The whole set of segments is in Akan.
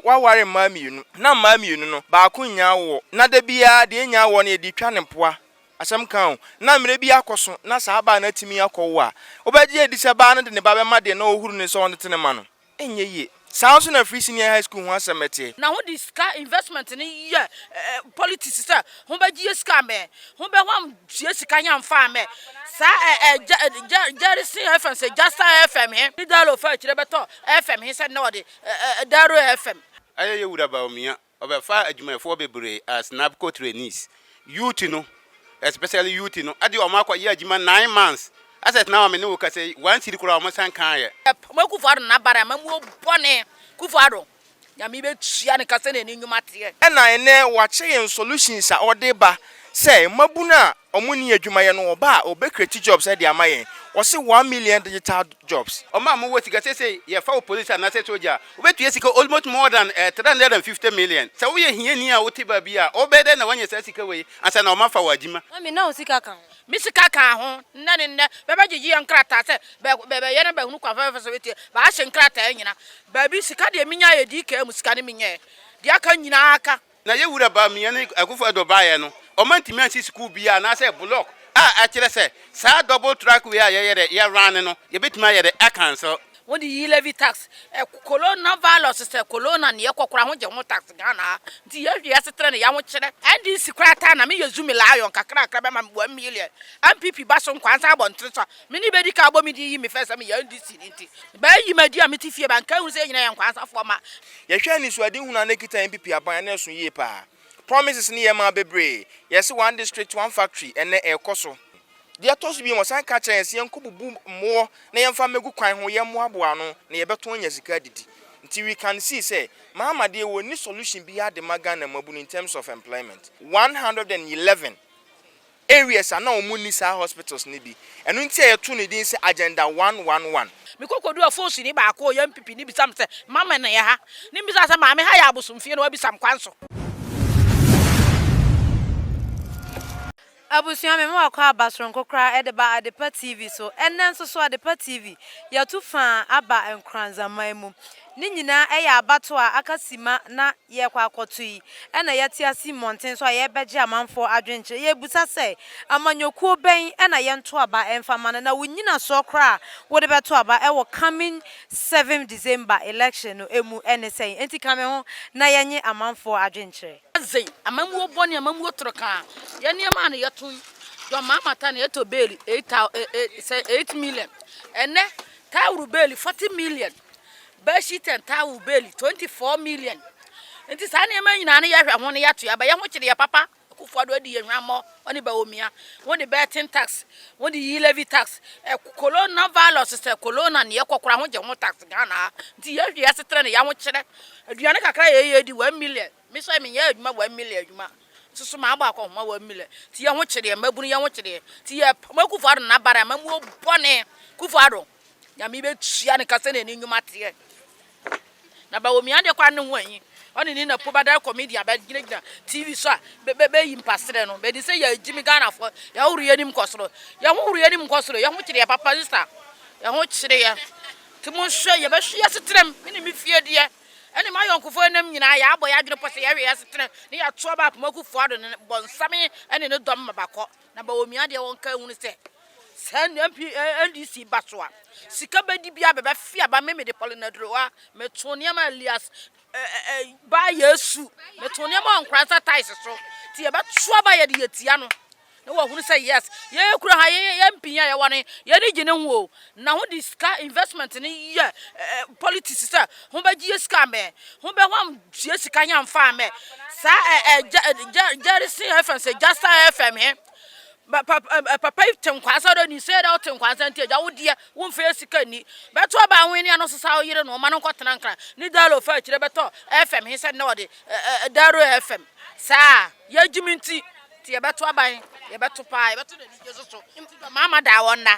waware mmaa mmienu. Ná mmaa mmienu no, baako nnya awoɔ. Ná da biara deɛ ɛnnya awoɔ no, yɛde retwa no mpoa. Asɛm ka o. Ná mmerɛ bi akɔ so na saa baa no atumi akɔwo a, wobɛgye adi sɛ baa no de ne ba bɛma deɛ na ɔrehuru no sɛ ɔntete ne mma no? Ɛnyɛ yie. Saa ara nso na Free Senior High School ho asɛm teɛ. Na wɔde sika investment no yɛ politics sɛ wɔbɛgye sika ama yɛn. Wɔbɛhwam tua sika he amfa amma yɛn. Saa ɛ ɛ Jerry Jerry Singh FM sɛ Jasta FM he ne Dalo faa akyire bɛtɔɔ FM he sɛ nnɛ wɔde Daro FM. Ayɛyɛ Wura Bawumia, ɔbɛfaa adwumayɛfoɔ bebree as NABCO trainees. Youth no, especially youth no, ɛde wɔn akɔ yɛ adwuma nine months. Asɛ tena hɔ a me ne wo kasa yi, one cedi koraa wɔn san kaeɛ. Ɛpoma Kuffo Addo n'aban amamuo bɔne. Kuffo Addo, Nyame bɛtua no ka sɛdeɛ ne nnwuma teɛ. Ɛna ɛnɛ wɔakyɛ yɛn solutions a ɔde ba sɛ mmabunu a Ɔmo ni adwumayɛ no ɔba a ɔbɛ create jobs ɛde ama yɛn ɔse one million digital jobs. Ɔmo a ɔmo wɔ sika seisei yɛ fa wo police anaasɛ soja a ɔbɛ tua sika almost more than three hundred and fifty million sɛ woyɛ hiani a wote baabi a ɔbɛ yɛ dɛn na wanya saa sika wei ansa na ɔmo afa wo adwuma. Mami na wo sika ka ho. Me sika ka ho, nnɛ ne nnɛ bɛ bɛ gyegye yɛn nkrataa sɛ bɛ bɛ bɛ yɛ na bɛ hunu kwan fɛfɛɛfɛ so bɛ tua bɛ ahye nkrataa nyina baabi sika deɛ me nya yɛ dii kaa mu sika ne me nyɛɛ deɛ aka nyinaa ka Na yɛn Wura Bawumia ne Akufo-Addo baeɛ no, wɔantumi ansi sukuu biara anaasɛ block a ɛkyerɛ sɛ saa double track way a yɛyɛ dɛ yɛ runne no, yɛbɛtumi ayɛ dɛ acancel. Wode yi levy tax, corona virus sɛ corona ne yɛkɔ koraa ho gye ho tax Ghana ha nti yɛhwɛ yɛasetena ne yɛahokyerɛ. NDC koraa taa na meyɛ zumi lion kakrakra bɛma me one million, NPP ba so nkoaa nsa abɔntene so a, Me ne bedi kan abɔ me din yi me fɛ sɛ me yɛ NDC ni nti bɛ yi m'adi a me te fie ba nka ehu sɛ yɛ nyina yɛ nkwansafoɔ ma. Yɛ hwɛ anisoade hunu a na ɛkita NPP aban a na ɛso yie paa. Promises no yɛ maa bebree. Yɛ se one district, one factory ɛnnɛ ɛrekɔ so. Deɛ ɛtɔ so biom wɔsan ka kyerɛ yɛn se yɛnkɔ bubu mmoɔ na yɛmfa mmɛgu kwan ho yɛ mmoaboa ano na yɛbɛtɔn anya sika adidi. Nti we can see sɛ Mahama deɛ ɔnni solution biara de ma Ghana mmabunu in terms of employment. One hundred and eleven. areas a na wɔn nni saa hospitals no bi. Ɛno nti a yɛtoo no din sɛ Agenda one one one. Mekɔkɔduu afoosini baako a ɔyɛ MPP ni bisaa me sɛ, Mama na yɛ ha? Ne mbisaa sɛ, Maame ha yɛ abosomfie na wabisa me kwan so? Abusua, me mma wɔkɔ aba soronko koraa de ba Adepa TV so. Ɛnnɛ nso so Adepa TV, yɛatu fã aba Nkoranza man mu. Ne nyinaa yɛ abatoɔ a aka simma na yɛrekɔ akɔto yi na yɛte ase mmɔnten so a yɛrebɛgye amanfoɔ adwenkyerɛ. Yɛrebisa sɛ, amanyɔkuo bɛn na yɛnto aba mfa mma no, na wo nnyinasoɔ koraa a wode bɛto aba wɔ coming seventh December election no mu ne sɛn? Enti ka me ho na yɛnye amanfoɔ adwenkyerɛ. Adze, amammuo bɔne, amammuo torokaa, yɛ nneɛma a na yɛto yi, John Mahama taa na yɛtɔ beeli eight thou eh eh sɛ eight million, ɛnnɛ taa woro beeli forty million. bedsheet and towel beli twenty four million nti saa nneɛma nyinaa no yɛhwɛ ho no yɛato aba yɛn ho kyere yɛ papa akufo ado adi yɛ hwammɔ ɔne baomia wɔn de bɛɛten tax wɔn de yi levy tax ɛ corona virus sɛ corona ne yɛkɔ kora ho gye ho tax ghana ha nti yɛhwɛ yɛ asetena ne yɛn ho kyerɛ aduane kakra yɛ yɛ di one million me sɛ me nyɛ adwuma one million adwuma soso maa bɔ akɔ homa one million ti yɛn ho kyere yɛ mmabunu yɛn ho kyere yɛ ti yɛ pɔmɔ akufo ado na bara yɛ mamuo bɔne kufo ado. Nyame bɛtua no ka sɛ n'ani nnwuma teɛ na Bawomi adeɛ kwa ne ho ahi ɔne ne na po badare comedian bɛgyinagyina tv so a bɛyi mpaserɛ no bɛdi sɛ yɛagyi me ghanafoɔ yɛhohoro yɛnim kɔ soro yɛhohoro yɛnim kɔ soro yɛho kyere yɛ papa ne sa yɛho kyere yɛ nti monhwɛ yɛbɛhwe yɛ seterɛm me ne me fie deɛ ɛne ma yɔnkofoɔ nam nyinaa yɛabɔ yɛ adwene pɔ sɛ yɛhwe yɛ seterɛm ne yɛatoa ba apomakufoɔ ado ne bɔnsame ɛne ne dɔm ma bakɔ Na ma onua deɛ ɔnka nhunu sɛ, sɛ NMP, NDC ba so a, sika bɛdi biara bɛbɛfe aba. Me mede Pauline Adurowa, metoo nneɛma a Elias ɛ ɛ ɛ baa Yesu, metoo nneɛma wɔ nkora nsa ties so. Nti yɛbɛto aba yɛde yɛtia no. Na wahunu sɛ yes, yɛn kura ha, yɛn yɛn mpinyin a yɛwɔ no, yɛn ani gye ne ho o. Na ho de sika investment no yɛ politics sɛ ho bɛ gyeɛ sika amɛ, ho bɛ hɔ gyeɛ sika he amfa amɛ. Saa Jerison FM sɛ Jasta FM he, papa yi te nkwa sɛ dɛ ni sɛ dɛ ɔte nkwa sɛ nti agya wo deɛ wo mfa yɛ sika ni. Bɛto aba ho ne ano sesa wo yere no ɔma no nkɔ tena nkran ne dalo fa akyire bɛtɔ FM he sɛ nnɛ ɔde daro FM saa yɛ gyimi nti nti yɛ bɛto aba he yɛ bɛto paa yɛ bɛto na anigye so so nti dɔ maa ma daa wɔn na.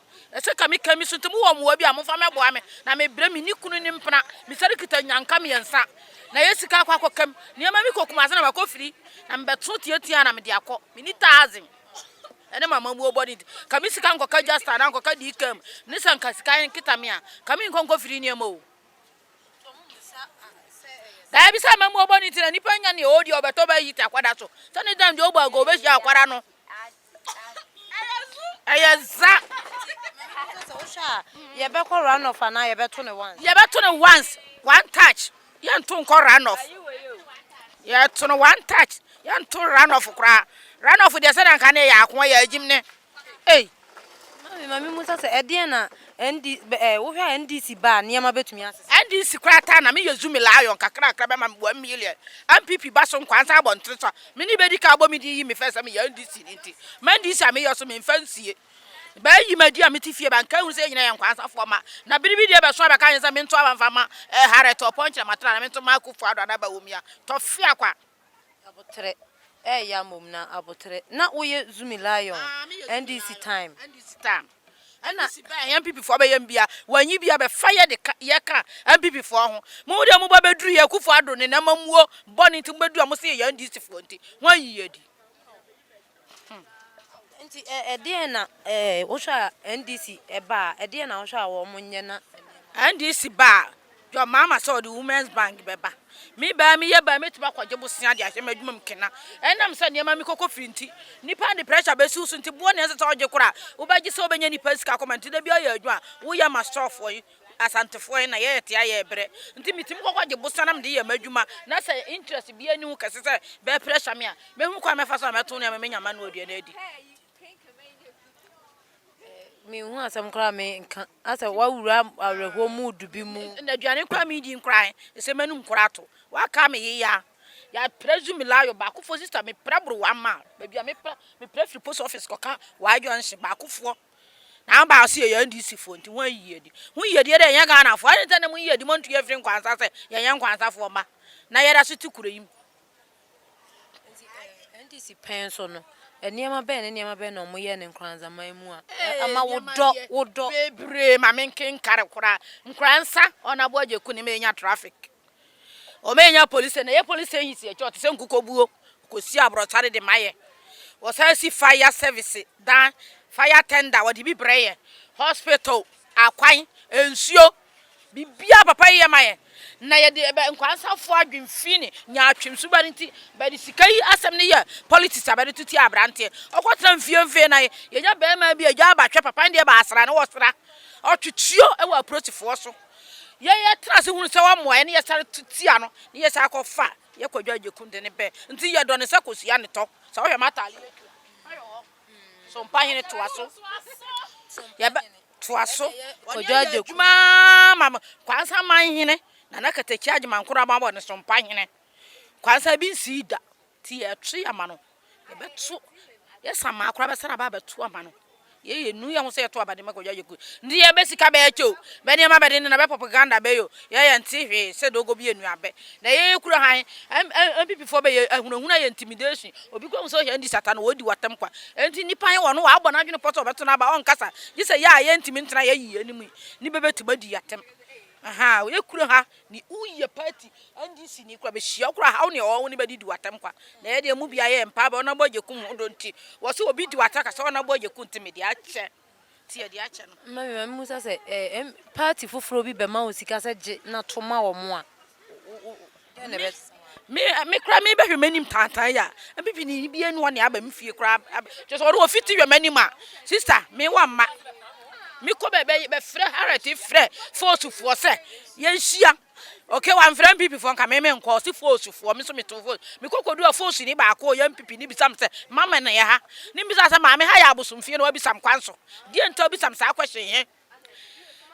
Ɛsɛ ka me ka me so nti mo wɔ mmoa bi a momfa mɛ boa me na me brɛ me ni kunu ne mpena me sɛre kita nyanka mmiɛnsa na yɛ sika akɔ akɔ kam nneɛma me kɔ kumase na makɔ firi na me bɛ to tie tia na me de akɔ me ni taazin ɛne ma ma muo bɔde nti ka me sika nkɔ ka jasta na nkɔ ka di kam ne sɛ nka sika yɛn kita me a ka me nkɔ nkɔ firi nneɛma o daa bi sɛ ma muo bɔde nti na nipa nya ne ɔdi ɔbɛtɔ bɛ yi ta kwada so sɛ ne dan deɛ ɔbɔ ago bɛ hyia akwara no Ɛyɛ za. Ɛsɛ sɛ wohwɛ a yɛbɛkɔ run off anaa yɛbɛto no once. Yɛbɛto no once one touch yɛnto nkɔ run off. Yɛto no one touch yɛnto run off koraa. Run off deɛ sɛdeɛ nka ne yɛ ako yɛ agyim ne. Ei. Mami mami mu sɛ sɛ ɛdeɛ na ND ɛɛ wohwɛ a NDC ba a nneɛma bɛtumi asesa. NDC koraa taa na meyɛ zumi lion kakrakra bɛma me one million. NPP ba so nkwa nsa abɔntene so a Me ne bɛdi ka abɔ me din yi me fɛ sɛ me yɛ NDC ni nti ma NDC a me yɛ so me nfa nsie bɛ yi ma di a me te fie ba nka hu sɛ yɛ nyina yɛ nkwansa foɔ ma na bere bi deɛ bɛ so a bɛ ka yɛ sɛ me nto aba nfa ma eh Harriet Ɔpɔn kyerɛ ma tra na me nto ma Akufo Addo ana Bawumia tɔ fia kwa. Aboterɛ eh ya mmom na Aboterɛ na wo yɛ Zumi Lion NDC time. Ɛna si bɛn a NPP foɔ bɛyɛ mbia, wɔanyi bia bɛfa yɛ de ka, yɛ ka NPP foɔ ho. Mo deɛ mo ba bɛduru yɛ Akufo Addo ne namamuo bɔne nti mo bɛduru a mo se yɛyɛ NDC foɔ nti mo anyi yɛ adi. Hmm. Nti ɛ, ɛdeɛn na ɛ, wohwɛ a NDC ɛba a, ɛdeɛn na wohwɛ a wɔn nyɛ na. NDC ba a. John mama sɛ ɔde women's band bɛba. Me baa me yɛ baa mɛtumi akɔgye bosea de ahyɛ m'adwuma mu kena. Ɛnam sɛ nneɛma me kɔkɔ firi nti, nnipa de pressure bɛsi wo so nti boɔ na ɛsɛ sɛ ɔgye kora a wobɛgye sɛ wobɛnya nnipa sika akɔma nti da biara yɛ adwuma a woyɛ ma storefoɔ yi, Asantefoɔ yi na yɛyɛ te a yɛ brɛ nti metumi kɔkɔ gye bosea na mede yɛ m'adwuma na sɛ interest biara nni ho kɛse sɛ bɛ pressure me a mɛhunu kwan a mɛfa so a mɛto nneɛma mɛnya m'ano aduane adi. Menhu asɛm koraa menka. Asɛ wawura awerɛhoɔ mu du bi mu. Na aduane koraa medi nkoraa ɛ. Ɛsɛ m'anum koraa ato. Waka me yea. Yɛaprɛ zu melayo baakofoɔ sista meprɛ boro one mile. Baabi a meprɛ meprɛ firi post office kɔka y junction baakofoɔ. Na aba ɔse yɛyɛ NDC foɔ nti ho ayiyi adi. Ho yiyi adie dɛ ɛnyɛ Ghana foɔ. Adɛn nti a na mo yiyi adi montu yɛn mfiri nkwansa sɛ yɛnyɛ nkwansafoɔ mma. Na yɛda so te kuro yi mu. Nti ɛɛ NDC pɛn so no, nneɛma bɛn ne nneɛma bɛn na wɔyɛɛ no Nkoranzaman mu a ama wo dɔ wo dɔ? Nneɛma yɛ bebree ma me nkenkare koraa. Nkoranza, wɔn aboa Gyeku ne ma yɛnya traffic. Wɔn yɛnya police station, yɛn police station si akyire hɔ te sɛ nkukobuo, wɔkɔsi aborɔkyare de ma yɛn. Wɔsan si fire service dan, fire tender wɔde bi brɛ yɛn, hospital, akwan, nsuo, Biribiara a papa yi yɛ ma yɛn, na yɛde bɛ nkwansafo adwene fi ne nyaatwem suba no nti, bɛde sika yi asɛm no yɛ politics a bɛde to tia aberanteɛ. Ɔkɔtena mfeemfee na yɛnya barima bi a gyaa ba hwɛ papa no deɛ baasra na ɔsra. Ɔtwe tuo wɔ aprotifoɔ so. Yɛn yɛtena ase hunu sɛ wɔmmoa yɛn na yɛsane to tia no na yɛsane kɔfa yɛ Kwadwo Agyeku de ne bɛ nti yɛdɔ no sɛ kosua ne tɔ. Sɛ wohwɛ m'atadeɛ yi a ɛkura, fa yɛ hɔ. Sompahene toa so. Yɛbɛ. Toa so kɔgye adwaku. Wɔnyɛ yɛ adwuma ma me. Kwansa man hene, Nana Katakyia Agyeman-Korɔ Aban wɔ ne so mpa hene. Kwansa bi nsii da, nti yɛreto yɛ ma no. Yɛbɛto, yɛ Samaa koraa bɛsan aba abɛto ama no. Yei yɛnu yɛ ho sɛ yɛto aba de ma Kwadwo Adwaku. Nti yɛbɛ sika bɛɛkyɛ o, bɛ nneɛma bɛdendenn, bɛ propaganda bɛyɛ o, yɛ yɛnte hwee sɛ doogo bi anuabɛ. Na yɛ yɛ kura han NPP foɔ bɛ yɛ ahunahuna yɛ intimidation obi kɔ hu sɛ ɔhɛ ndi sata no ɔdi watam kwa ɛnti nipa he wɔ no wabɔ n'adwene pɔ sɛ ɔbɛto n'aba ɔnkasa gye sɛ yɛ a yɛ ntimi ntena yɛ yiye no mu ne bɛ bɛ tuma di yatam ahaa yɛ kura ha ne woyɛ party NDC ni kura bɛ hyia kura haw ne ɔwɔ ne bɛ di di watam kwa na yɛ deɛ mu bia yɛ mpa bɛ ɔnabɔ agye kum ho do nti wɔ sɛ obi di wata ka sɛ ɔnabɔ agye kum nti me deɛ akyɛ nti yɛde akyɛ no. Mma me ma memmisa sɛ eh, M, party foforɔ bi bɛma wo sika sɛ gye na to ma wɔn a, wo, wo, dɛn na ɛbɛ. Me, me, me koraa mebɛhwɛ m'anim tantan yi a, MPP ni bi anua ne aba me fie koraa, ab, kyerɛ sɛ ɔno ɔfi ti hwɛ m'anim a, sister, me wɔ mma. Mekɔ baabi a, bɛfrɛ Harriet frɛ force foɔ sɛ yɛnhyia. Ok wamfrɛ NPP foɔ nka me menkɔ ɔse force foɔ me nso meto force mekɔ kɔduu a force ni baako ɔyɛ NPP ni bisa me sɛ mama na yɛ ha ne mbisa sɛ maame ha yɛ abosom fie na wabisa me kwan so deɛ nti a wobisa me saa question he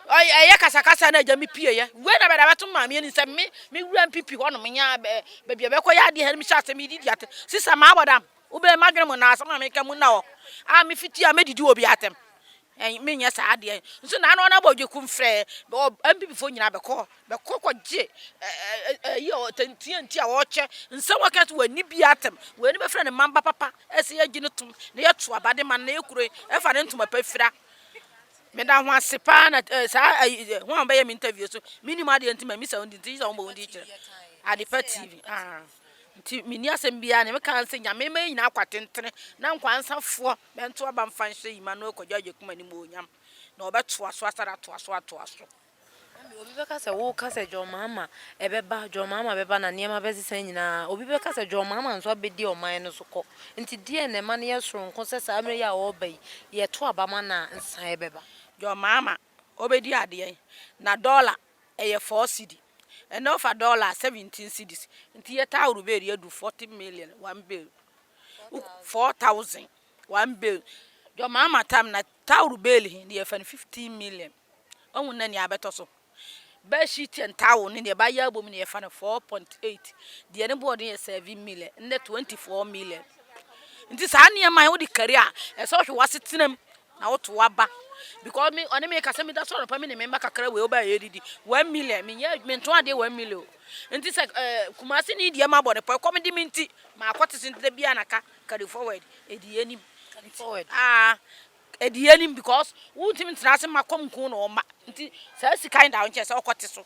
ɔyɛ ɛyɛ kasakasa na agya me pie yɛ wei na bɛda bɛto maame ani sɛ me me wura NPP hɔ nom nyaa baabi a bɛkɔ yɛ adeɛ he no mehyɛ ase medidi ate sisa maa bɔdam Wobɛyɛ m'adwene mu na asɛm a meka mu nna hɔ a mefiti a mɛdidi wɔ obiara atɛm. Ɛn, menyɛ saa adeɛ nso na ano anabɔ gye kum frɛ MPP foɔ nyinaa bɛkɔ hɔ bɛkɔ kɔgye ɛyi a tantia nti a wɔkyɛ nsɛm wɔka nso wɔani biara atɛm wɔani bɛfrɛ ne mamba papa ɛsɛ yɛgye no tom na yɛto aba de ma no na yɛkuro ɛfa ne ntoma pa fira meda ho ase paa na saa ɛyi ho a wɔbɛyɛ me interview so menim adeɛ nti ma misa wo nti nti sɛ wɔbɔ wo nti kyerɛ Adepa TV ah. Nti menni asɛm biaa, neɛ meka ne sɛ Nyame ma yɛ nyinaa kwa tentene na nkwansafoɔ bɛnto aba mfa nhyɛ Emmanuel Kwadwo Agyekum animuonyam na ɔbɛtoa so asane atoa so atoa so. Ɛnde obi bɛka sɛ woka sɛ John Mahama ɛbɛba John Mahama bɛba na nneɛma bɛsesa nyinaa a, obi bɛka sɛ John Mahama nso abɛdi ɔman no so kɔ. Nti deɛn na ɛma no yɛ soronko sɛ saa mmerɛ yi a ɔreba yi, yɛto aba ma no a nsesaeɛ bɛba? John Mahama ɔbɛdi adeɛn? Na dɔla Ɛyɛ four cedi. Ɛnɛ ɔfa dɔla a seventeen cedis nti yɛ taa woro bɛɛri adu forty million one bɛɛri wo four thousand one bɛɛri dwɔmaa ma tam na taa woro bɛɛri he ne yɛfa no fifteen million wahu na nea abɛtɔ so bɛɛ sheet and towel ne deɛ bayɛ abom ne yɛfa no four point eight deɛ ne board yɛ seven million ne twenty four million nti saa nneɛma yi wode kari a ɛsɛ ɔhwɛ wasetenam Na wo to aba because me ɔne me kasa mi da so anɔpa me ne me mba kakra wei ɔbaa yɛ didi one million me nyɛ me nto adeɛ one million nti sɛ ɛɛ eh, kumasi ne deɛ ma bɔ ne pɔ ɛkɔm di me nti ma akɔ te se nti da bi anaka carry forward edi yɛ nim carry forward aa ah, edi yɛ nim because wo ntumi ntena ase ma kɔm nko na ɔma nti saa sika yi da nkyɛn sɛ ɔkɔ te so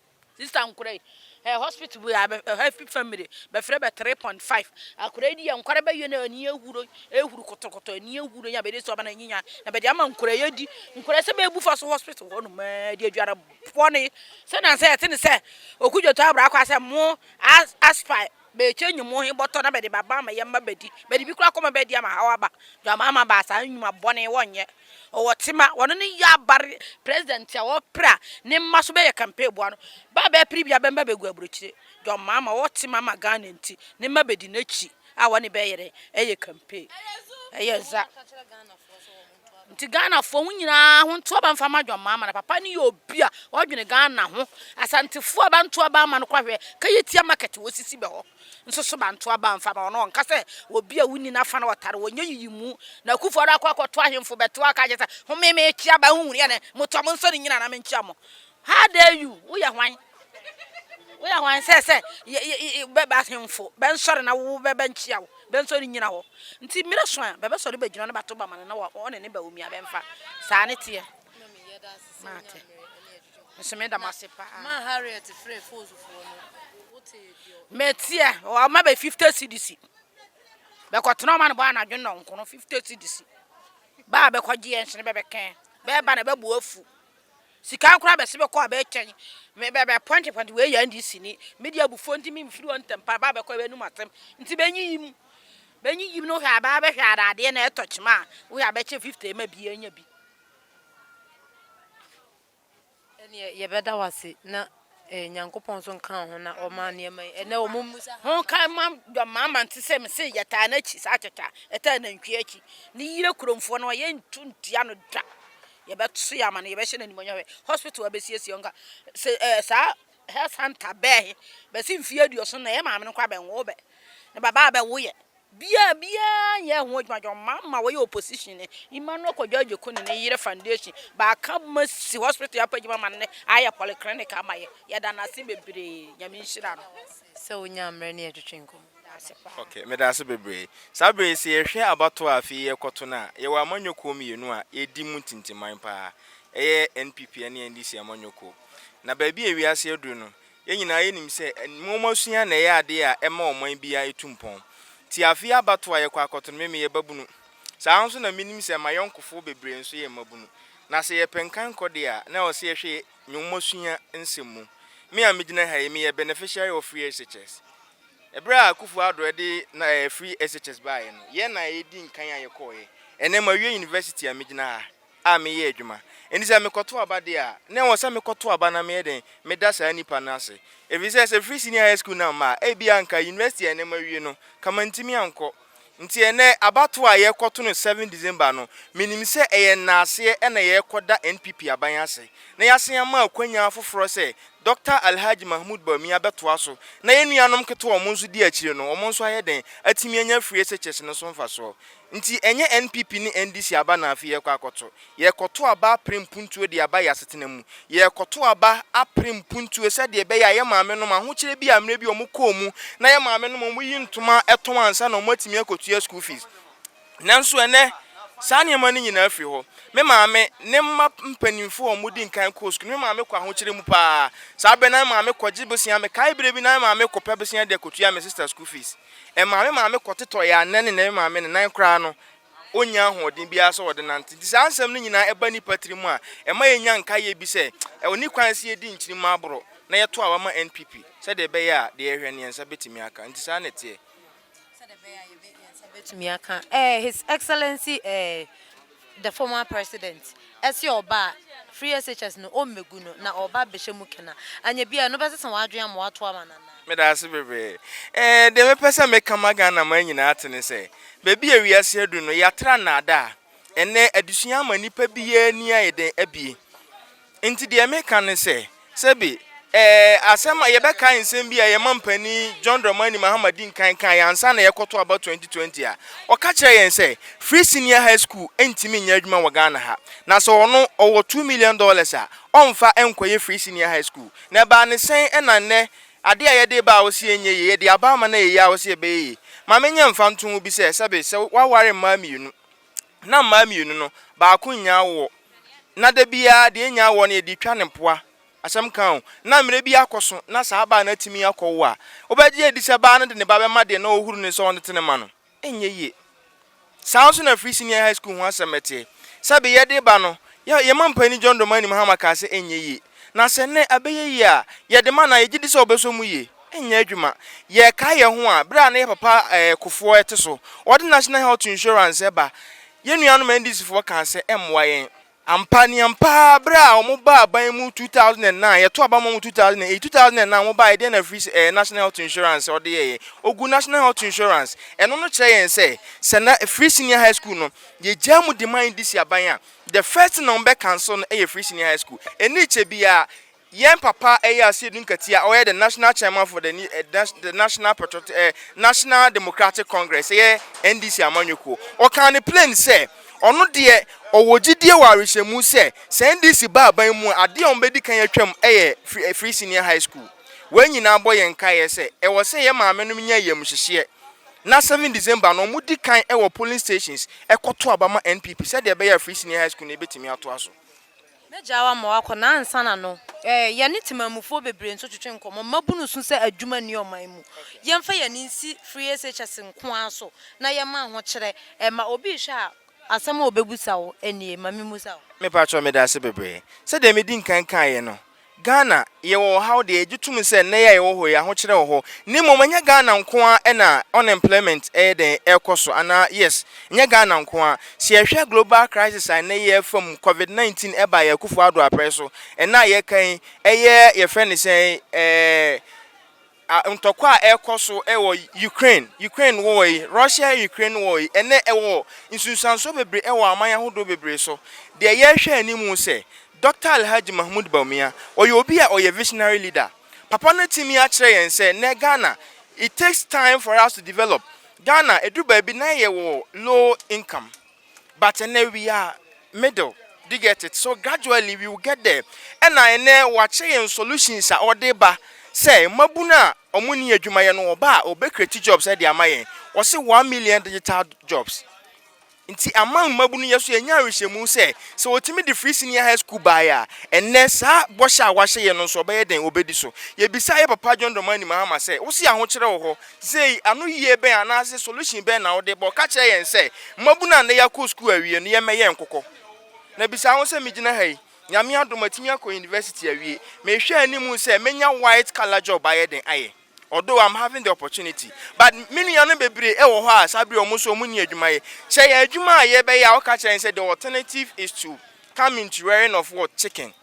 Sister nkora yi eh, hospital bi a bɛ ɛhɔ afi fam de bɛfrɛ bɛ three point five akora yi di yɛ nkora bɛyɛ na ani ehuro ehuro kɔtɔkɔtɔ ani ehuro nya bɛde sɛ ɔba na nyinya na bɛde ama nkora yɛ di nkora sɛ bɛbu fa so hospital hɔ nom ɛɛ de adwara bɔne sɛ na sɛ ɛte ne sɛ okudwoto abra akɔ asɛ mo as aspire Mekyekyɛ nnwuma he bɔtɔ na mede ba ma yɛ mma bedi. Mede bi koraa kɔma bɛadi ama haw aba. Dwammaa mma baa saa nnwuma bɔne wɔnyɛ. Wɔwɔ tema. Wɔno ne Yabar president a wɔpere a ne mma so bɛyɛ campaign boa no. Bɛ a bɛpere biaa bɛmma bɛgu aburokyire. Dwammaa mma ɔwɔ tema ma Ghana nti ne mma bedi n'akyi a wɔne bɛyere yɛ campaign. Ɛyɛ dza. Nti Ghanafoɔ mo nyinaa ho nto aba mfa ma John Mahama na papa no yɛ obi a ɔdwene Ghana ho Asantefoɔ a banto aba ama no kɔ ahwɛ Kayitia market wɔ sisi bɛ hɔ nso so banto aba mfa ma wɔn ɔnka sɛ obi a wonni n'afa na ɔtare wɔn nyɛ yiyimu na Akufo Addo akɔ akɔto ahemfo bɛto aka akyɛ sɛ home mekyia ba honhunu yɛ ne motɔ mo nsɔ ne nyina na menkyia mo how dare you woyɛ hwan Woyɛ hwan sɛ sɛ bɛba ahemfo bɛnsɔre na wo bɛbɛnkyia wo bɛnsɔre nyina hɔ nti mmerɛ so a bɛbɛsɔre bɛgyina ne bato bama no na ɔne ne ba omia bɛmfa saa ne teɛ maate nso meda mo ase paa ma Harriet frɛ fozufoɔ no mɛteɛ ɔma bɛ 50 cedis bɛkɔtena ɔma no bɔ anadwo nnɔnko no 50 cedis baa bɛkɔgyeɛ nhyene bɛbɛkɛn bɛba na bɛbu afu Sika no koraa bɛse bɛkɔ a bɛtwɛn me bɛ bɛ pɔnte pɔnte wei yɛ NDC ni me deɛ abufuo nti me mfiri hɔ ntɛm pa baa bɛkɔ a bɛnum asɛm nti bɛnyiyim bɛnyiyim no hwɛ a baa bɛhwɛ a dadeɛ na ɛtɔ kyema a wohwɛ a bɛkyɛ 50 ɛma bi ɛnya bi. Ɛneɛ yɛbɛda wo ase na Eh, Nyankopɔn nso nkaa ho na ɔmaa nneɛma yi. Ɛnɛ wɔn mu sa. Ho ka ma dɔmmaama nte sɛ me se yɛtaa n'akyi saa kyɛkyɛ a ɛtaa nantwie akyi. Ne yere kuromfoɔ no yɛntu ntia no da. Yɛbɛso yɛ ama no, yɛbɛhyɛ no animuonyam hwɛ. Hospital abɛsiesie nka se eh, saa health center bɛɛ he bɛse mfeɛ aduoson na yɛ maame no koraa bɛnwoo bɛ. Ne babaa bɛwoeɛ. Bia biaa nyɛɛ ho adwuma dwom ma ma wɔyɛ opposition ne Emmanuel Kojo Agyeku ne ne yere foundation baaka ma si hospital yɛapɛ adwuma ma no ne ayɛ polyclinic ama yɛ yɛda no ase bebree Nyame nhyira no. Sɛ wo nyaa mmerɛ ne yɛ twetwe nkɔmmɔ. Daase paa. Ok, medaase bebree. Saa berɛ yi sɛ yɛhwɛ abatoɔ a afei yɛrekɔto no a, yɛwɔ amanyɔ kuo mmienu a ɛredi mu ntintiman paa. Ɛyɛ NPP ne NDC amanyɔ kuo. Na baabi a wiase aduru no, Yɛn nyinaa yɛnim sɛ nwomasua na ɛyɛ adeɛ a ɛma ɔman biara tu mpɔn. Nti afei abatoɔ a yɛkɔ akɔto no, me meyɛ babunu. Saa ara nso na menim sɛ m'ayɔnkofoɔ bebree nso yɛ mmabunu. Na sɛ yɛpɛ nkankɔ deɛ a, na ɛwɔ sɛ yɛhwɛ nwomasua nsɛm mu. Me a megyina ha yi, meyɛ beneficiary of free SHS. Ɛberɛ a Akuffo Addo de na free SHS baeɛ no, yɛn na yɛdi nkan a yɛkɔeɛ. Ɛnnɛ mawie university a megyina ha. a meyɛ adwuma. Enti sɛ mekɔto aba deɛ a, na ɛwɔ sɛ mekɔto aba na meyɛ dɛn? Meda saa nipa no ase. Ɛfiri sɛ, sɛ ɛfiri senior high school no amma a, ebia anka university a ɛnnɛ mawie no, anka mantumi ankɔ. Nti ɛnnɛ, abatoɔ a yɛrekɔto no seven December no, menim sɛ ɛyɛ nnaaseɛ na yɛrekɔda NPP aban ase, na yɛasan ama akwannya afoforɔ sɛ Dɔkta Alhaji Mahmood Bawumia bɛtoa so, na yɛn nuanom nketewa a wɔn nso di akyire no, wɔn nso ayɛ dɛn? atumi anya free SHS no so mfasoɔ. Nti ɛnyɛ NPP ne NDC aba na afei yɛrekɔ akɔto. Yɛrekɔto aba apere mpuntuo de aba yɛn asetena mu. Yɛrekɔto aba apere mpuntuo sɛdeɛ ɛbɛyɛ a yɛn maame nom ahokyerɛ bi a mmerɛ bi wɔn kɔɔ mu na yɛn maame nom wɔyi ntoma tɔn ansa na wɔn atumi akɔtua school fees. Nanso ɛnnɛ saa nneɛma no nyinaa firi hɔ. Me maame ne mma mpaninfoɔ a wɔdi nkan kɔɔ school no me maame kɔ ahokyerɛ mu paa. Saa berɛ no na me maame kɔgye bosea. Mekae berɛ bi na me maame kɔpɛ bosea de akɔtua me sister school fees. Ɛmaa me maame kɔtotɔe a nnɛ ne nnɛ me maame ne nan koraa no, onnya ahoɔden biara sɛ ɔde nante. Enti saa nsɛm no nyinaa ɛba nnipa tirim a, ɛma yenya nkaeɛ bi sɛ, ɛwɔ ne kwan sɛ yɛdi nkyirimma aboro na yɛto aba ma NPP sɛdeɛ ɛbɛyɛ a deɛ yɛhwɛ no yɛn nsa bɛtumi aka. Enti saa na ɛteɛ. Sɛdeɛ ɛbɛyɛ a yɛn nsa bɛtumi aka. His Excellency eh. the former president, se ɔba a, firi SHS no, ɔmmɛgu no, na ɔba bɛhyɛ mu kena. Anyɛ biaa, ɛno bɛsesa w'adwene ama woato ama no anaa? Meda ase bebree. Ɛɛ, deɛ mepɛ sɛ meka ma Ghanaman nyinaa ate ne sɛ, baabi a wiase aduru no, yɛatra nnaadaa. Ɛnnɛ, adesua ama nnipa biara ani ayɛ dɛn abue. Enti deɛ meka ne sɛ, sɛbe ɛɛ asɛm a yɛbɛkae nsɛm bi a yɛn mampanin John Dramani Mahama di nkan kaeɛ ansa na yɛrekɔto aba 2020 a, ɔka kyerɛɛ yɛn sɛ, Free Senior High School ntumi nyɛ adwuma wɔ Ghana ha. Na sɛ ɔno ɔwɔ two million dollars a, ɔmfa nkɔyɛ Free Senior High School. Na ɛbaa ne sɛn na nnɛ adeɛ a yɛde reba a ɔse ɛnyɛ yie, yɛde aba ama no a ɛyɛ yie a ɔse ɛbɛyɛ yie. Ma menyɛ mfantoho bi sɛ, sɛbe sɛ woaware mmaa mmienu, na mmaa mmienu no, baako nnya awoɔ. Na da biara deɛ ɛnya awoɔ no yɛde retwa no mpoa. Asɛm ka o. Na mmerɛ bi akɔso na saa baa no atumi akɔwo a, wobɛgye adi sɛ baa no de ne ba bɛma deɛ na ɔrehuru no sɛ ɔntete no mma no? Ɛnyɛ yie. Saa ara nso na Free Senior High School ho asɛm teɛ. Sɛbe yɛde reba no, yɛ, yɛn mampanin John Domah Animhama kaa sɛ ɛnyɛ yie. Na sɛ nnɛ ɛbɛyɛ yie a, yɛde ma no a, yɛgye di sɛ ɔbɛsɔ mu yie. nyɛ adwuma. Yɛkae yɛn ho a, bere a na yɛ papa Kufuor te so, ɔde National Health Insurance ba. Yɛn nuanom NDCfoɔ kaa sɛ ɛmmoa yɛn. Ampa, ne ampa ara, bere a wɔbaa aban mu 2009, yɛtoo aba maa wɔn 2008, 2009 wɔbaeɛ, deɛn na free eh, National Health Insurance ɔde yɛeɛ? Ɔgu National Health Insurance. Ɛno no kyerɛ yɛn sɛ, sɛ na Free Senior High School no, yɛgyaa mu de ma NDC aban a, the first thing a wɔbɛ cancel no yɛ Free Senior High School. Ɛnni kyɛ biara, Yɛn papa ɛyɛ Asiedu Nkati a ɔyɛ the national chairman for the the national patriotic eh, national democratic congress ɛyɛ NDC amanyɔkuo ɔkaa ne plain sɛ ɔno deɛ ɔwɔ gyidie wɔ awehyɛmu sɛ sɛ NDC ba aban mu a adeɛ a wɔbɛdi kan atwam ɛyɛ free, eh, free senior high school wei nyinaa bɔ yɛn nkaeɛ sɛ ɛwɔ sɛ yɛ maame nom nya yam hyehyeɛ na 7 December no wɔdi kan ɛwɔ polling stations ɛkɔto aba ma NPP sɛdeɛ ɛbɛyɛ a free senior high school no ɛbɛtumi atoa so. Mɛgyaa wo ama woakɔ na ansa na no ɛ, yɛne temanmufoɔ bebree nso twetwe nkɔmmɔ. Mmabunu su sɛ adwuma nni ɔman mu. Yɛmfa yɛn ani nsi FreeSHS nko ara so na yɛmma ahokyerɛ mma obi rehwɛ a asɛm a ɔbɛbisa wo nie. Ma memmisa wo. Mepakyɛw, Medase bebree. Sɛdeɛ medi nkan kaeɛ no, Ghana, yɛwɔ ɔhaw deɛ yɛgye tom sɛ nnɛ yi a yɛwɔ hɔ yi ahokyerɛ wɔ hɔ na mmom ɛnyɛ Ghana nko ara na unemployment yɛ dɛn ɛrekɔ so anaa yes ɛnyɛ Ghana nko ara sɛ yɛhwɛ global crisis a nnɛ yi yɛrefa mu covid 19 ɛbaa yɛn Akuffo Addo aprɛ so ɛnnɛ a yɛka yi ɛyɛ yɛfrɛ no sɛn ɛɛ ntɔkwa a ɛrekɔ so wɔ Ukraine, Ukraine war yi, Russia Ukraine war yi, ɛnɛ ɛwɔ nsunsuansoɔ bebree wɔ aman ahodoɔ bebree so. Deɛ yɛrehwɛ anim sɛ, Dɔkta Alhaji Mahmoud Bawumia, ɔyɛ obi a ɔyɛ visionary leader. Papa no atumi akyerɛ yɛn sɛ, nnɛ Ghana, it takes time for us to develop. Ghana, ɛduru baabi na yɛwɔ low income. but ɛnɛ we are middle do you get it so gradually we will get there ɛna ɛnɛ wakyɛ yɛn solutions a ɔde ba sɛ mmabunu a ɔmo ni adwuma yɛ no ɔba a ɔbɛ create jobs ɛde ama yɛn ɔsi one million digital jobs nti ama mmabunu yɛ so yɛn nya awihyɛmu sɛ sɛ ɔtumi de free senior high school baayɛ a ɛnɛ saa bɔhyɛ a wahyɛ yɛn no nso ɔbɛyɛ den ɔbɛdi so yɛbisa yɛ papa John Dramani Mahama sɛ wosi ahokyerɛ wɔ hɔ Sei, anoyie bɛn anaase solution bɛn na wode bɔ? Ka kyerɛ yɛn sɛ, mmabu no a nnɛ yɛakɔ sukuu awie no yɛmmɛyɛ nkokɔ. Na bisa ho sɛ, megyina ha yi, Nyame adom matumi akɔ university awie, mehwɛ anim sɛ mɛnya white color job ayɛ den ayɛ? Although I'm having the opportunity, but me nuanom bebree wɔ hɔ a saa bere yi wɔn nso wɔnni adwuma yɛ. Kyerɛ yɛn adwuma a yɛbɛyɛ a woka kyerɛ yɛn sɛ the alternative is to come into rearing of what? Chicken.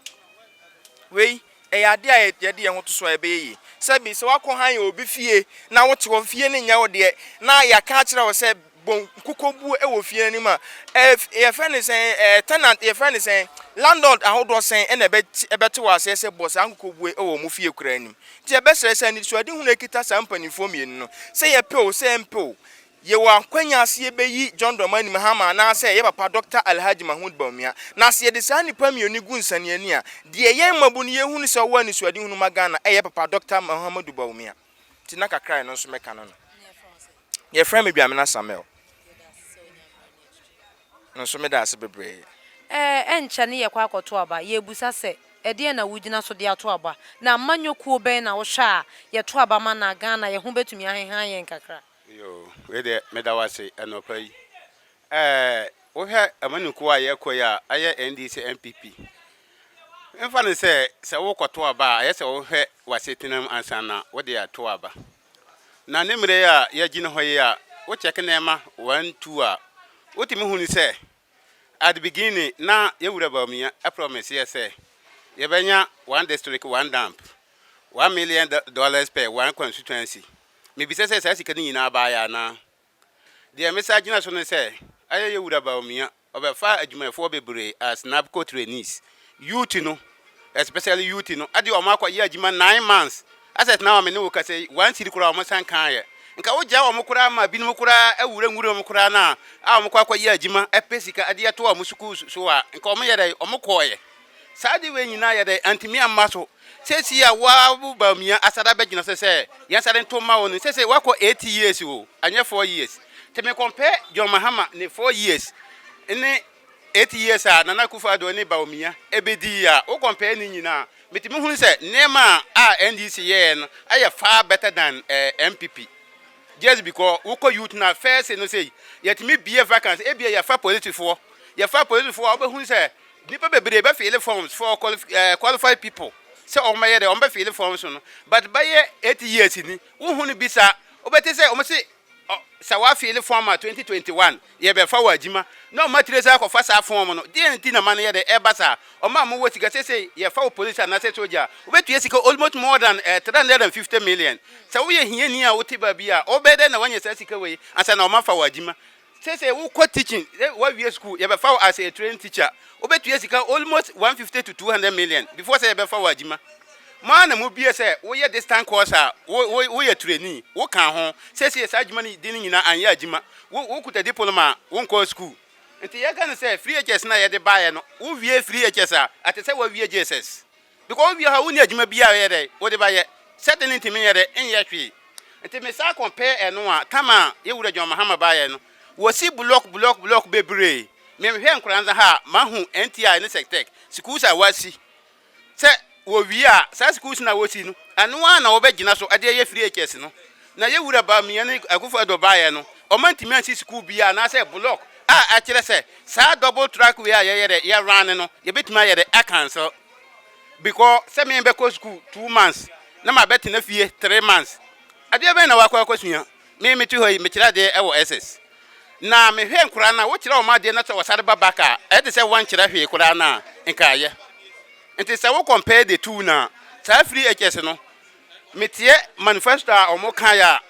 Wei. ɛyɛ ade a yɛde yɛn ho to so a, ɛbɛyɛ yie. Sɛbe sɛ woakɔhan obi fie na wote hɔ, fie no nyɛ wo deɛ, na yɛaka akyerɛ wo sɛ bɔ nkokɔ bu wɔ fie no anim a, ɛf, yɛfrɛ no sɛn, ɛɛ, tenant, yɛfrɛ no sɛn, landlord ahodoɔ sɛn na ɛbɛte, ɛbɛte wɔ aseɛ sɛ bɔ saa nkokɔ bue wɔ wɔn fie koraa anim. Nti yɛbɛsrɛ sɛ anisoadehunu a ɛkita saa mpanimfoɔ mmienu no, sɛ yɛpɛ o, sɛ yɛmpɛ o, Yɛwɔ akwanya sɛ yɛbɛyi John Dramani Mahama anaasɛ yɛn papa Dɔkta Alhaji Mahmood Bawumia. Na sɛ yɛde saa nnipa mmienu yi gu nsaniani a, deɛ yɛn mmabu no yɛhunu sɛ wɔwɔ anisoadehunu ma Ghana ɛyɛ papa Dɔkta Mahamadu Bawumia. Nti na kakra a ɛno nso mɛka no no. Yɛfrɛ me Dwamena Samuel. No nso meda ase bebree. Ɛnkyɛ ne yɛkɔ akɔto aba. Yɛrebisa sɛ, Ɛdeɛn na wogyina so de ato aba? Na amanyɔkuo bɛn na wohwɛ a yɛto aba ma na Ghana yɛn ho bɛtumi ahehan yɛn kakra? Yoo wei deɛ meda wo ase anɔpa yi. Ɛɛ wohwɛ amanikuo a yɛkɔ yi a ayɛ NDC NPP. Mfa no sɛ sɛ wokɔto aba a ayɛ sɛ wohwɛ w'asetena mu ansa na wode ato aba. Na ne mmerɛ yi a yɛgyina hɔ yi a wokyɛke nneɛma one two a wotumi hunu sɛ At the beginning na yɛ wura Bawumia promise yɛ sɛ yɛ bɛ nya one district one dump, one million dollars per one constituency. Me bisa sɛ saa sika no nyinaa baa yɛ anaa? Deɛ me sa gyina so ne sɛ, ayɛ yɛ wura Bawumia, ɔbɛ faa adwumayɛfoɔ bebree as NABCO trainees. Youth no especially youth no ɛde wɔn akɔ yɛ adwuma nine months asɛt na wɔn mene wo kasa yi one city koraa wɔn san kan yɛ nka wo gya wɔn koraa ma binom koraa awura nwura wɔn koraa na a wɔn kɔ akɔ yɛ adwuma ɛpɛ sika ɛde ɛto wɔn sukuu so a nka wɔn yɛ dɛ wɔn kɔɔ yɛ saa de wei nyinaa yɛ dɛ antumi amma so sɛsi a wɔabu baamia asada bɛgyina sɛ sɛ yɛn asada nto ma wɔn sɛ sɛ wɔakɔ eight years o anyɛ four years tɛmɛ compare John Mahama ne four years ne Eight years a Nana Akufo Addo ne Bawumia bedi yi a, wo compare ne nyina a, mitumi hu sɛ nneɛma a NDC yɛɛ no yɛ far better than NPP. Just because wokɔ youth no a, first no sei, yɛtumi bue vacancy, ebia yɛfa polisifoɔ, yɛfa polisifoɔ a wobɛhu sɛ nnipa bebree bɛ file forms for qualified people sɛ wɔn bɛyɛ dɛ, wɔn bɛ file forms no, but bɛyɛ eight years ni, wohu no bi saa, wobɛte sɛ wɔn se Ɔ Sɛ wa fili fɔm a 2021 yɛ bɛ fa wɔ adjima na ɔma tire saa kɔ fa saa fɔm no deɛn nti na ma no yɛ dɛ ɛba saa ɔma mo wɔ sika sesei yɛ fa wo police anasɛ soja a wo bɛ tua sika almost more than eh 350 million sɛ wo yɛ hiani a wo te baabi a wo bɛ dɛ na wa nya saa sika wei ansa na ɔma fa wɔ adjima Sesei wo kɔ teaching sɛ wa wie school yɛ bɛ fa wo as a trained teacher wo bɛ tua sika almost 150 to 200 million before sɛ yɛ bɛ fa wo adwuma mo ara na mo bie sɛ wo yɛ distant course a wo wo wo yɛ trainee wo kan ho sesei saa adwuma no di no nyina anyɛ adwuma wo wo kuta diploma a wo nkɔɔ school nti yɛ ka no sɛ free HS no a yɛ de baayɛ no wo wie free HS a ate sɛ wa wie JSS Because wo wia hɔ a wonni adwuma bi a yɛ dɛ wode ba yɛ sɛ de ne ntumi nyɛ dɛ nyɛ hwee nti me saa compare ɛno a tam a yɛ wura John Mahama ba yɛ no wɔ si block block block bebree me hwɛ nkora nsa ha a ma hu NTI ne sectec schools a wa si sɛ wɔ wie a saa schools na wɔ si no ɛno a na wɔ bɛ gyina so ɛde yɛ free HS no Na yɛn Wura Bawumia ne Akuffo Addo baeɛ no, wɔantumi ansi sukuu biara anaasɛ block a ɛkyerɛ sɛ saa double track way a yɛyɛ dɛ yɛ run no yɛbɛtumi ayɛ dɛ acancel because sɛ me bɛkɔ sukuu two months na mabɛtena fie three months adeɛ bɛn na wakɔ akɔsua me mete hɔ yi mekyerɛ adeɛ wɔ SS na mehwɛ nkora no a wokyerɛ wɔn adeɛ na sɛ wɔsare ba back a ɛyɛ te sɛ wɔnkyerɛ hwee koraa no a nka ayɛ nti sɛ wo compare the two no a saa free HS no Metie manifesto a ɔmo kaeɛ a,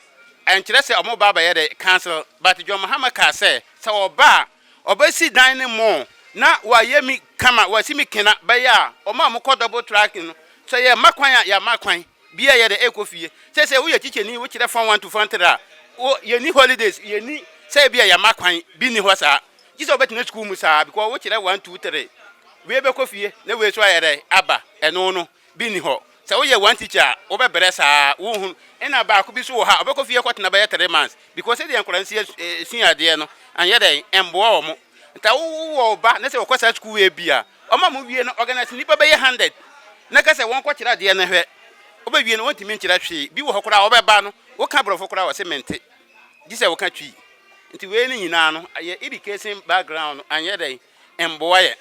ɛnkyerɛ sɛ ɔmo ba abɛyɛ dɛ council but John Mahama kaa sɛ sɛ ɔba a ɔbɛsi dan ne mall na wayɛ mi kama wasi mi kena bɛyɛ a ɔmo a ɔmo kɔ double track no sɛ yɛ ma kwan a yɛ ama kwan biaa yɛ dɛ ɛkɔ fie sɛsɛ woyɛ tikyɛni wo kyerɛ form one to form three a wo yɛ ni holidays yɛ ni sɛ ebia yɛ ma kwan bi ni hɔ saa gye sɛ wobɛtena school mu saa because wo kyerɛ one two three wei bɛkɔ fie na wei so ayɛ dɛ aba ɛno no Bi nni hɔ. Sɛ woyɛ one teacher a, wobɛbrɛ saa ara, wonhu. Ɛna baako bi nso wɔ ha, ɔbɛkɔ fie akɔtena bɛyɛ three months because sɛdeɛ nkwadaa no si sua adeɛ no, ɛnyɛ dɛn, ɛmmoa wɔn. Nti wowɔ wo ba na sɛ ɔkɔ saa sukuu wei bi a, ɔma mowie no, organise nnipa bɛyɛ hundred na ka sɛ wɔnkɔkyerɛ adeɛ no hwɛ. Wobɛwie no, wɔntumi nkyerɛ hwee. Bi wɔ hɔ koraa a, wɔbɛba no, woka Borɔfo koraa a, ɔse mente, gye sɛ woka Twi. Nti wei no nyinaa no, ɛyɛ education background, ɛnyɛ dɛn, mboa yɛn.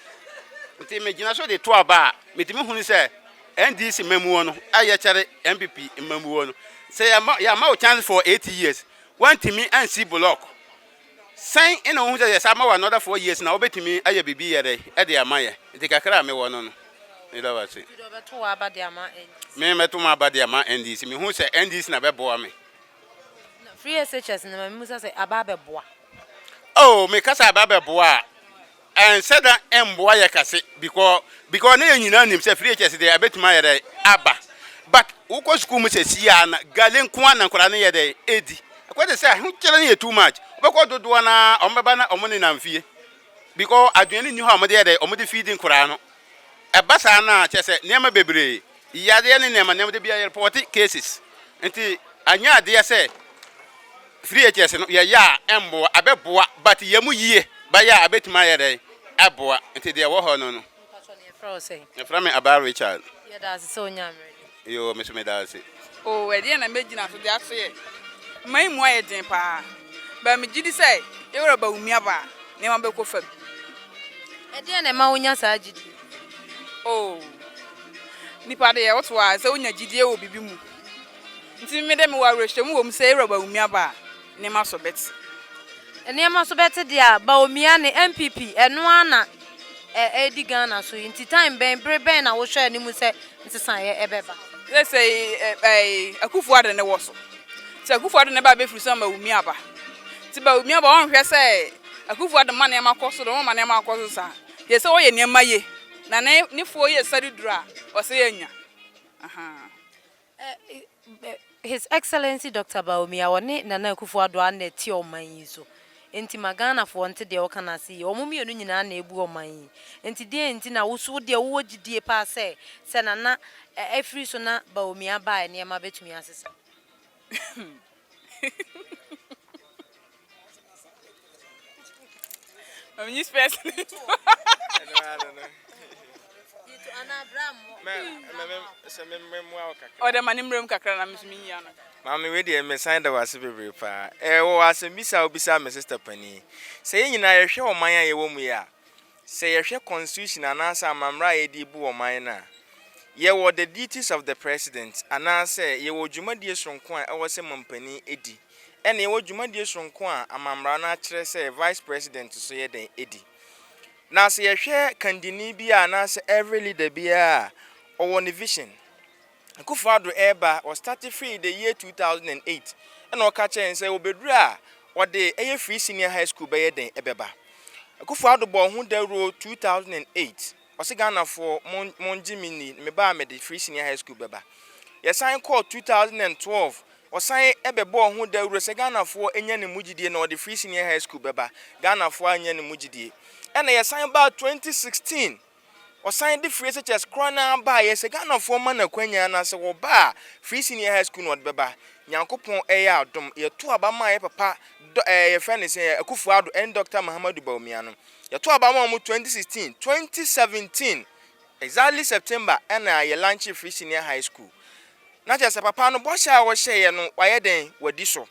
Ntsi megyina so de to aba a, medze me hunu sɛ NDC mmamuo no a yɛkyɛre NPP mmamuo no, sɛ yɛma yɛama wo chance for eight years, woantumi ansi block, sɛn na wohu sɛ yɛsan ma wo another four years na wobɛtumi ayɛ biribi yɛ dɛn de ama yɛn? Nti kakra a mewɔ no no, meda wo ase. Mede wɔbɛto w'aba de ama NDC. Memɛto m'aba de ama NDC. Mehu sɛ NDC na bɛboa me. Free SHS no ma me musa sɛ aba abɛboa. Oh, me kasa aba abɛboa a, ɛnsɛ da ɛmboa yɛ kase because because ne yɛ nyinaa nim sɛ free SHS deɛ ɛbɛtumi ayɛ dɛ aba. But wokɔ sukuu mu sɛ si a na gale nko ara na nkwadaa no yɛ dɛ ɛdi. Ɛkɔ te sɛ ahokyere no yɛ too much. Wobɛkɔ dodoɔ no ara wɔn bɛba na wɔn nenam fie because aduane nni hɔ a wɔde yɛ dɛ wɔde feedi nkwadaa no. Ɛba saa no a kyerɛ sɛ nneɛma bebree Yadeɛ ne nneɛma nneɛma da biara yɛrepɔte cases nti anyɛ adeɛ sɛ VHS no yɛyɛ a ɛmboa abɛboa but yɛ mu yie bɛyɛ a abɛtumi ayɛ dɛn ɛboa nti deɛ ɛwɔ hɔ no no. Mpatsɔ ne yɛfrɛ wo sɛn? Yɛfrɛ me Abaa Richard. Yɛda ase sɛ onyaa mmerɛ ni. Yoo me nso meda ase. Oh ɛdeɛn na mɛgyina so de asoɛ ma yi mu ayɛ den paa but megye di sɛ yɛwura Bawumia ba a nneɛma bɛkɔ fam. Ɛdeɛn na ɛma wonya saa gyidie yi? Oh, nnipa deɛ wote hɔ a sɛ wonya gyidie wɔ biribi mu. Nti me deɛ mewɔ awerɛhyɛmu wɔ mu sɛ Ewura Bawumia ba a, nneɛma so bɛte. Nneɛma so bɛte deɛ a, Bawumia ne NPP ɛno ara na ɛredi Ghana so yi. Nti time bɛn, bere bɛn na wohwɛ anim sɛ nsesaeɛ bɛba? Seesei ɛɛ Akuffo Addo ne wɔ so. Sɛ Akuffo Addo ne ba a ɛbɛfiri so ama Bawumia aba. Nti Bawumia ba a ɔnhwɛ sɛ Akuffo Addo mma nneɛma kɔ so dɛm, ɔmma nneɛma nkɔ so saa. Yɛ sɛ ɔyɛ nneɛma ye na ne ne foɔ yɛ sare duru a ɔsɛ yɛ nya ahaa. His Excellency Doctor Bawumia ɔne Nana Akufo Addo a na ɛte ɔman yi so nti ma Ghana foɔ nte deɛ woka no ase yie. Wɔn mmienu nyinaa na ɛbu ɔman yi nti deɛn nti na wo so wo deɛ wowɔ gyidie paa sɛ sɛ Nana ɛfiri so na Bawumia ba a nneɛma bɛtumi asesa? I'm just passing it. ɔdɛ ma ne mmerɛm kakra na meso menyia no maame wei deɛ mesan da wase bebree paa ɛwɔ asɛm bisa wobisa me sister pani sɛ yɛ nyinaa yɛhwɛ ɔman a yɛwɔ mu yɛ a Sɛ yɛhwɛ constitution anaasɛ amammra a yɛde bu ɔman no a, yɛwɔ the duties of the President anaasɛ yɛwɔ dwumadie soronko a ɛwɔ sɛ mampanin di, ɛna yɛwɔ dwumadie soronko a amammra no akyerɛ sɛ Vice President nso yɛ dɛn di. Na sɛ yɛhwɛ kandini biara anaasɛ every leader biara a, ɔwɔ ne vision, Akuffo Addo reba, ɔ starte firi the year 2008 ɛna ɔka kyerɛ yɛn sɛ ɔbɛduru a ɔde ɛyɛ free senior high school bɛyɛ dɛn ɛbɛba. Akuffo Addo bɔɔ ho dawuro 2008, ɔse Ghanafoɔ mo ngye me nni, meba a mede free senior high school bɛba. Yɛsan kɔɔ 2012, ɔsan ɛbɛbɔɔ ho dawuro sɛ Ghanafoɔ nya ne mu gyidie na ɔde free senior high school bɛba, Ghanafoɔ annya ne mu gyidie. Ɛna yɛsan baa 2016, Ɔsan de free SHS kora no ara baeɛ, sɛ Ghanafoɔ ma no akwanya na sɛ ɔba a, free senior high school na ɔde bɛba. Nyankopɔn ɛyɛ adom, yɛto aba ma yɛ papa Dɔ ɛɛ yɛfrɛ no sɛn, Akuffo Addo ɛne Doctor Mahamadou Bawumia no. Yɛto aba ma wɔn 2016, 2017 exactly September ɛna yɛ launchee free senior high school. Na kyerɛ sɛ papa no bɔhyɛ a ɔhyɛeɛ no wayɛ dɛn? Wadi so.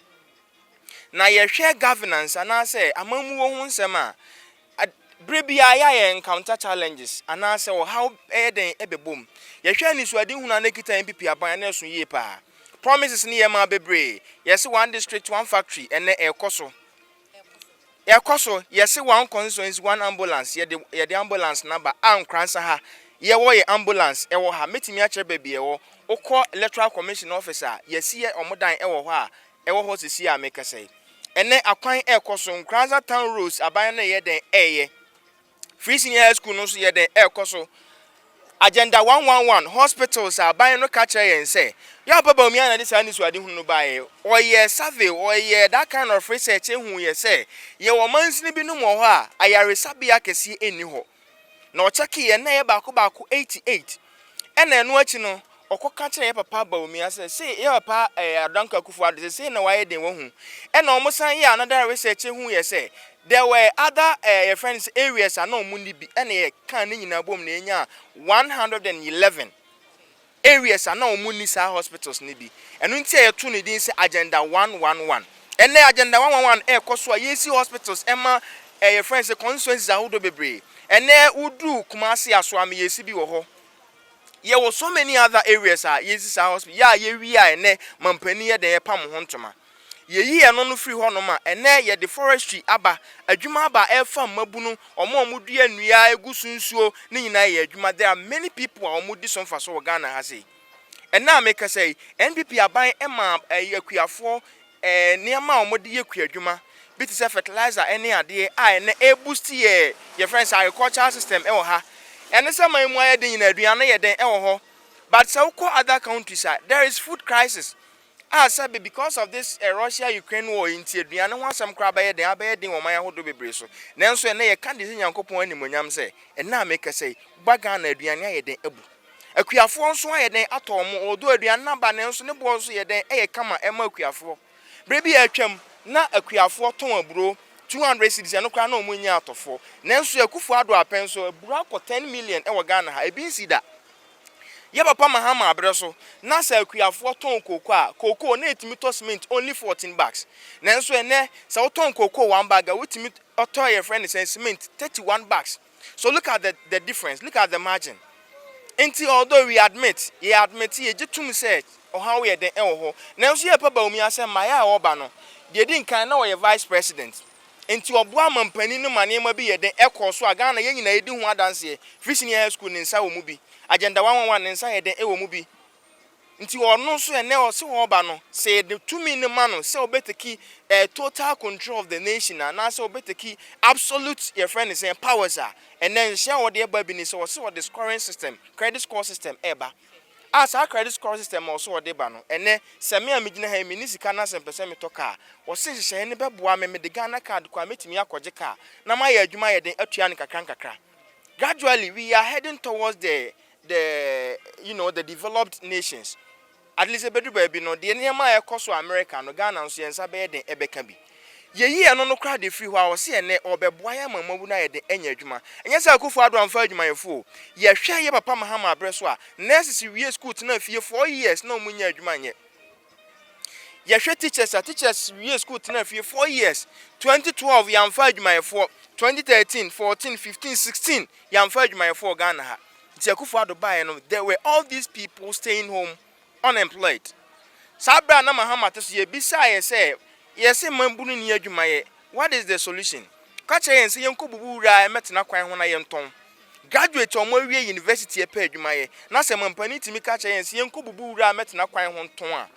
Na yɛhwɛ governance anaasɛ amammuo ho nsɛm a, Ad, bere biara yɛ a yɛ encounter challenges anaasɛ ɔhaw bɛyɛ dɛn bɛbɔ mu. Yɛhwɛ anisoadehunu a na ɛkita yɛn pipi aban a na ɛso yie paa. Promises no yɛ maa bebree. Yɛse one district, one factory, ɛnnɛ ɛrekɔ so. Ɛrekɔ so. Yɛse one constituency, one ambulance, yɛde, yɛde ambulance no aba. A Nkoransa ha, yɛwɔ yɛ ambulance ɛwɔ ha. Mɛtumi akyerɛ baabi ɛwɔ. Wokɔ electoral commission office a, yɛasi yɛ wɔn dan ɛwɔ hɔ a, ɛwɔ hɔ sɛsi a mekasa yi. Ɛnɛ akwan ɛɛkɔ so, Nkranza town roads aban no yɛ dɛn ɛɛyɛ, free senior high school no nso yɛ dɛn ɛɛkɔ so, agenda 111, hospitals a aban no ka kyerɛ yɛn sɛ, Yawpa Bawumia na ɛde saa anisoade hunu no baeɛ, ɔyɛɛ survey, ɔyɛɛ that kind of research, ɛhuu yɛ sɛ, yɛwɔ mansini binom wɔ hɔ a ayaresabea kɛseɛ nni hɔ. na ɔkyɛkee yɛn na ɛyɛ baako baako eighty eight ɛna ɛno akyi no ɔkɔ ka kyerɛ yɛ papa Bawumia sɛ se yɛ papa ɛɛ eh, Adanko Akufo Addo sɛ sei na wayɛ den wahu ɛna wɔn san yɛ another research hu yɛ sɛ there were other ɛɛ eh, yɛ friend sɛ areas a na wɔn ni bi ɛna yɛ kan ne nyinaa bom na yɛnya one hundred and eleven areas a na wɔn nni saa hospitals no bi. Ɛno nti a yɛtoo no din sɛ Agenda one one one. Ɛnnɛ Agenda one one one rekɔ so a yɛresi hospitals ma eh yɛfrɛ no sɛ constituencies ahodoɔ bebree. Ɛnnɛ woduru Kumasi Asoame yɛresi bi wɔ hɔ. Yɛwɔ so many other areas a yɛresi saa hospital. Yɛ a yɛwie a ɛnnɛ mampanin yɛ dɛn yɛpam ho ntoma. Yɛyii ɛno no firii hɔnom a ɛnnɛ yɛde forestry aba, adwuma aba a ɛfa mmabunu, wɔn a wɔdua nnua, ɛgu so nsuo, ne nyinaa yɛ adwuma. There are many people a wɔdi so mfasoɔ wɔ Ghana ha sei. Ɛnnɛ a mekasa yi, NPP aban maa ɛyi akuafoɔ ɛɛ nneɛma a wɔde yɛ kuadwuma bi te sɛ fertilizer ɛne adeɛ a ɛnnɛ ɛreboost yɛ yɛfrɛ no sɛ agricultural system ɛwɔ ha. Ɛne sɛ man mu ayɛ den nyinaa aduane yɛ den ɛwɔ hɔ but sɛ wokɔ other countries a there is food crisis. A sɛbe because of this Russia Ukraine war yi nti aduane ho asɛm koraa bɛyɛ dɛn, abɛyɛ den wɔ ɔman ahodoɔ bebree so. Nanso ɛnnɛ yɛka de hyɛ Nyankopɔn animuonyam sɛ, ɛnnɛ a mekasa yi, woba Ghana aduane ayɛ dɛn abu. Akuafoɔ nso ayɛ dɛn atɔ wɔn, although aduane no aba nanso ne boɔ nso yɛ dɛn, ɛyɛ kama ɛma akuafoɔ. Berɛ bi a atwam, na akuafoɔ tɔn aburo 200 cedis, ɛno koraa na wɔnnya atɔfoɔ. Nanso Akufo-Addo apɛ nso, aburo akɔ 10 million wɔ Ghana ha, ebi nsi da. Yɛ papa Mahama abrɛ so na sɛ akuafoɔ tɔn cocoa a, cocoa na ɛtumi tɔ cement only fourteen bags. Nanso ɛnnɛ sɛ wotɔn cocoa one bag a wotumi ɔtɔ yɛfrɛ no sɛn cement thirty one bags. So look at the the difference, look at the margin. Nti although we admit, yɛ admit yɛgye tom sɛ ɔhaw yɛ den ɛwɔ hɔ, nanso yɛ papa Bawumia sɛ mmaeɛ a ɔreba no, deɛ ɛdi nkan na ɔyɛ vice president. Enti ɔboaa manpanin no ma nneɛma bi yɛ den kɔɔ so a Ghana yɛn nyinaa di ho adanseɛ. Free Senior High School ne nsa wɔ mu bi. Agenda one one one ne nsa yɛ den wɔ mu bi. Nti ɔno nso ɛnɛ ɔse ɔreba no, sɛ yɛde tumi no ma no sɛ ɔbɛteki eh, total control of the nation a, anaasɛ ɔbɛteki absolute yɛfrɛ no sɛn powers a, ɛnɛ nhyɛ a ɔde ɛba bi ne sɛ ɔse ɔde scoring system, credit score system ɛreba. A Saa credit scoring system a ɔsɛ ɔde ba no, ɛnnɛ, sɛ me a migyina ha yi minni sika na sɛ mepɛ sɛ metɔ kaa a, ɔsɛ nhyehyɛe no bɛboa me, mede Ghana card kɔ a metumi akɔgye kaa na mayɛ adwuma ayɛ den atua no nkakrankakra. Gradually, we are heading towards the the you know the developed nations. At least ebedu baabi no, deɛ nneɛma a ɛrekɔ so America no, Ghana nso yɛn nsa bɛyɛ den ɛbɛka bi. Yɛyi ɛno no koraa de firi hɔ a, ɔse ɛnnɛ ɔrebɛboa yɛn ama mmabu no ayɛ den anya adwuma. Ɛnyɛ sɛ Akufo Addo amfa adwumayɛfo o. Yɛhwɛ yɛn papa Mahama berɛ so a, nurses wie sukuu tenaa fie four years na wɔnnya adwuma nyɛ. Yɛhwɛ teachers a, teachers wie sukuu tenaa fie four years. 2012 yɛamfa adwumayɛfoɔ, 2013, 14, 15, 16 yɛamfa adwumayɛfoɔ wɔ Ghana ha. Nti Akufo Addo baeɛ no, there were all these people staying home Unemployed. Saa berɛ a na Mahama te so, yɛbisaa yɛ sɛ, Yɛse mmabunu nni adwuma yɛ, what is the solution? Ɔka kyerɛɛ yɛn sɛ yɛnkɔbubu wura a ɛmɛtena kwan ho na yɛntɔn. Graduate a wɔawie university ɛpɛ adwuma yɛ, na sɛ mampanin tumi ka kyerɛ yɛn sɛ yɛnkɔbubu wura a ɛmɛtena kwan ho ntɔn a,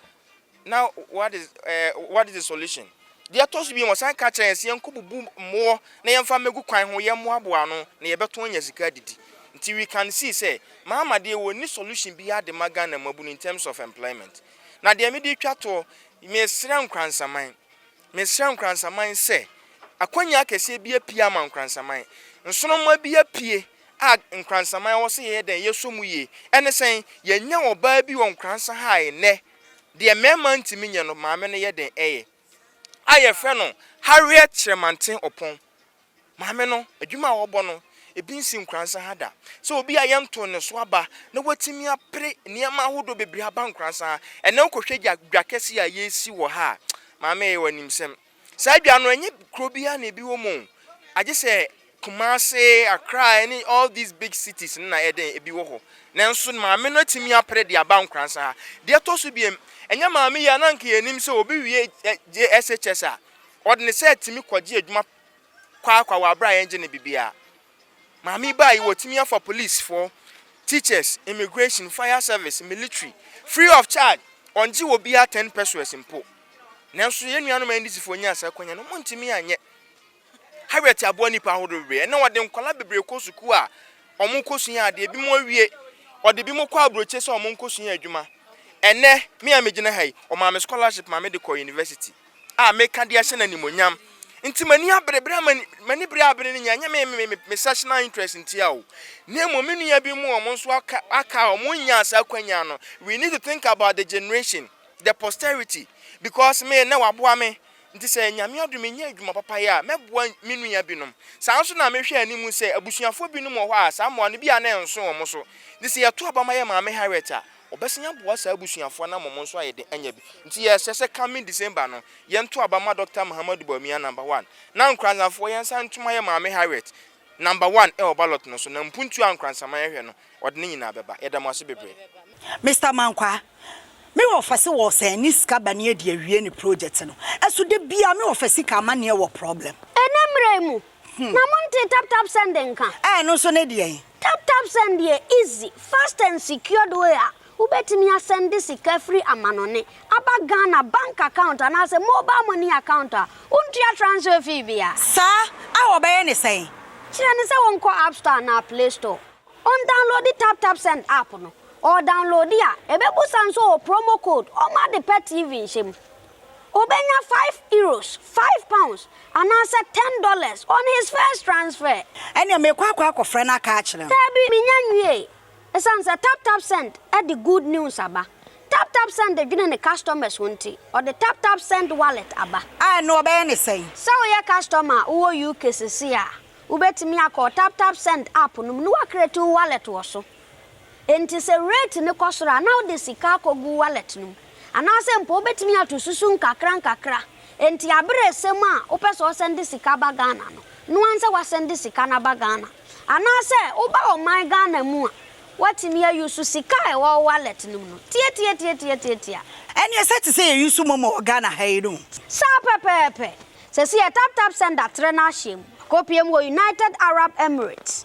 na what is, eh, what is the solution? Deɛ ɛtɔ so mmienu, wɔsan ka kyerɛ yɛn sɛ yɛnkɔbubu mmoɔ na yɛmfa mmɛgu kwan ho, yɛmmoaboa ano na yɛbɛtɔn anya sika adidi. Nti we can see sɛ Mahama deɛ wɔnni solution biara de ma Ghana mmabunu in terms of employment. Na deɛ mede retwa toɔ, mesrɛ Nkoransaman, mesrɛ Nkoransaman sɛ akwanya akɛseɛ bi apue ama Nkoransaman. Nsoromma bi apue a Nkoransaman ɛwɔ sɛ yɛyɛ dɛn? Yɛsɔ mu yie. Ɛne sɛn? Yɛanya ɔbaa bi wɔ Nkoransa ha nnɛ Deɛ mmarima ntumi nyɛ no, maame no yɛ den yɛ. A yɛfrɛ no Harriet Kyerɛmanten Ɔpɔn. Maame no, adwuma a ɔbɔ no, ebi nsi Nkoransa ha da. Sɛ obi a yɛntoo ne so aba na watumi apere nneɛma ahodoɔ bebree aba Nkoransa ha. Ɛnnɛ wokɔhwɛ dwa kɛseɛ a yɛresi wɔ ha a, maame yɛ wo animsɛm. Saa dwa no ɛnyɛ kuro biara na ebi wɔ mu o. Agye sɛ Kumasi, Accra ɛne all these big cities no na ɛyɛ dɛn ebi wɔ hɔ. Nanso maame no atumi apere de aba Nkoransa ha. Deɛ ɛtɔ so biam, ɛnyɛ maame yi a na anka yɛnim sɛ obi wie JSHS a ɔde ne saa tumi kɔgye adwuma kwaakwa wɔ abere a yɛngye no bibiara. Maame yi baa yi wɔtumi afa police foɔ, teachers, immigration, fire service, military free of charge ɔngye obiara ten pesewas mpo nanso yɛn nuanom NDC foɔ nyaa saa akwanya no ɔmo ntumi anyɛ Harriet aboa nipa ahodoɔ bebree ɛnna ɔde nkwadaa bebree kɔ sukuu a ɔmo kɔ sua adeɛ ebi mo awie ɔde bi mo kɔ aburokye sɛ ɔmo nkɔ sua adwuma ɛnɛ me a megyina ha yi ɔmaa me scholarship ma me de kɔ university. a meka de ahyɛ no animuonyam. Nti m'ani abere bere a m'ani bere abere no nyɛ ɛnyɛ me me me me sectional interest ntia o. Na mmom me nua bi mu wɔn nso aka aka a wɔn nyaa saa kwanya no we need to think about the generation the posterity because me na waboa me nti sɛ nyame adom me nya adwuma papa yɛ a mɛboa me nua binom saa nso na mehwɛ anim sɛ abusuafoɔ binom wɔ hɔ a saa mmoa no bi a na ɛnso wɔn so ne sɛ yɛto aba ma yɛ maame Harriet a Wɔbɛsan aboa saa abusuafoɔ no ama wɔn nso ayɛ den anya bi. Nti yɛsrɛ sɛ coming December no, yɛnto aba mma Dɔkta Mahamadou Bawumia Number One, na Nkoranzafoɔ yɛnsan nto mma yɛn Maame Harriet Number One wɔ ballot no so, na mpuntuo a Nkoransaman hwɛ no, ɔde ne nyinaa bɛba. Yɛda mo ase bebree. Mister Mankwaa, me wɔfa se wɔ sɛn ne sika ba ne adi awie ne project no, ɛso da biaa me wɔfa sika amanneɛ wɔ problem. Ɛnɛ mmerɛ yi mu, Na montee tap tap send nka? Ɛɛ ɛno nso ne deɛn? Tap tap send yɛ easy, fast and secured way a wobɛtumi asɛnde sika firi amanɔne aba Ghana bank account anaasɛ mobile money account a wontua transfer fee biara. Saa a wɔbɛyɛ ne sɛn? Kyerɛ no sɛ wɔnkɔ app store anaa play store, ɔndownloadi tap tap send app no, ɔɔdownloadi a ɛbɛbusa nso ɔwɔ promo code ɔma ade pa TV nhyɛ mu. Obenya five euros, five pounds, anaasɛ ten dollars on his first transfer. Ɛnneɛ mekɔ akɔ akɔfrɛ no aka akyerɛ no. Daabi, mennya nwiei. Esiane sɛ TapTapSend de good news aba, TapTapSend dwene ne customers ho nti, ɔde TapTapSend Wallet aba. A, ɛnneɛ wɔbɛyɛ no sɛn? Sɛ woyɛ customer a wowɔ UK seesei a, wobɛtumi akɔ TapTapSend app no mu na woacreate wo wallet wɔ so. Enti sɛ rate no kɔ soro a, na wode sika akɔgu wallet no mu. Anaasɛ mpo wobɛtumi ato susu nkakrankakra. Enti aberɛ resɛm a wopɛ sɛ ɔsɛnde sika ba Ghana no, noa nsɛ wasɛnde sika no aba Ghana. Anaasɛ woba ɔman Ghana mu a, woatumi a use sika a ɛwɔ wo wallet no mu no. Tiatiatiatiatiatia. Ɛneɛ sɛ te sɛ yɛ use momo wɔ Ghana ha yi no. Saa pɛpɛɛpɛ. Sɛsi yɛ taptapsend atrɛ no ahyɛm. Akɔpie mu wɔ United Arab Emirates.